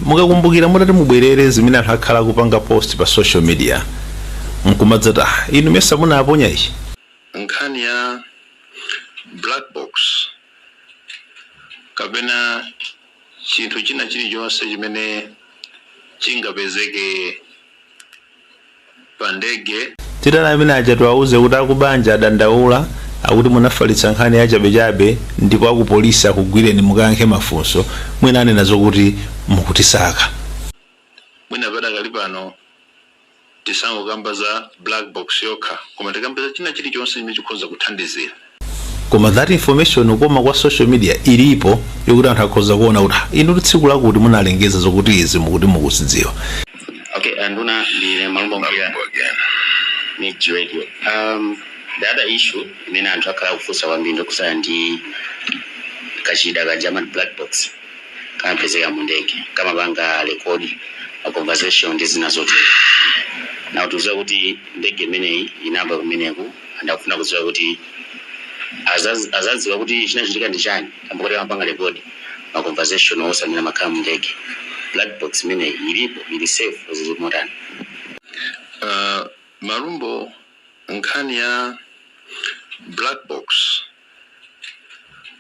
Mukakumbukira mutati mubwerere zimene anthu akhala akupanga post pa social media nkumadzati ah inu mesa munaponya ichi? Nkhani ya black box kapena chinthu china chilichonse chimene chingapezeke. pa ndege. Titani amene aja tiwauze kuti akubanja adandaula akuti munafalitsa nkhani yachabechabe ndipo akupolisi akugwireni mukayankhe mafunso. Mwina anena zokuti mukutisaka. Mwina padakali pano tisangokamba za black box yokha koma tikambe za china chilichonse chimene chikhoza kuthandizira. koma that information koma kwa social media ilipo yokuti anthu akhoza kuona kuti "Ah, inu ndi tsiku lakuti munalengeza zokuti izi mukuti mukuzidziwa Okay, anduna, ndine Malumbo Mbuya, Mix Radio. Um, the other issue, imene anthu akhala akufunsa kwambiri ndokusaya ndi kachida kaja ma black box kamapezeka mu ndege kamapanga rekodi ma conversation ndi zina zotero now tikudziwa kuti ndege imeneyi inagwa kumeneku anthu akufuna kudziwa kuti azaz- azadziwa kuti chinachitika ndi chani kamba kuti amapanga record ma conversation onse amene amakhala mu ndege black box imeneyi ilipo ili safe or zili motani Uh, Malumbo, nkhani ya black box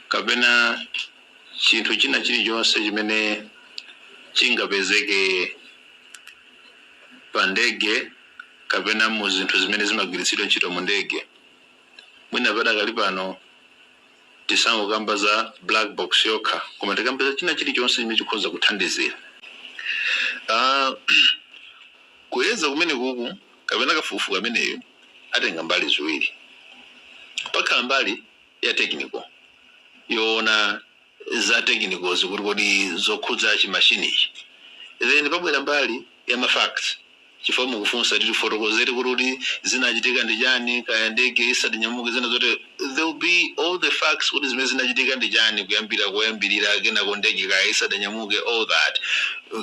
kapena chinthu china chilichonse chimene chingapezeke pa ndege kapena mu zinthu zimene zimagwiritsidwa ntchito mu ndege, mwina padakali pano tisangokamba za black box yokha koma tikambe za china chilichonse chimene chikhoza kuthandizira aah kuyeza kumenekuku kapena kafukufuku ameneyu atenga mbali ziwiri pakhala mbali ya technical yowona za technicals kuti kodi zokhudza chi machine chi then pabwera mbali ya ma facts chifukwa mukufunsa kuti tifotokozere kuti kodi zinachitika ndi chani kaya ndege isadanyamuke zina zotero there will be all the facts kuti zimene zinachitika ndi chani kuyambira koyambirira kenako ndege kaya isadanyamuke all that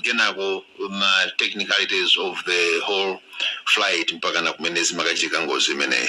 kenako ma technicalities of the whole flight mpakana kumene zimakachitika ngozi imeneyi.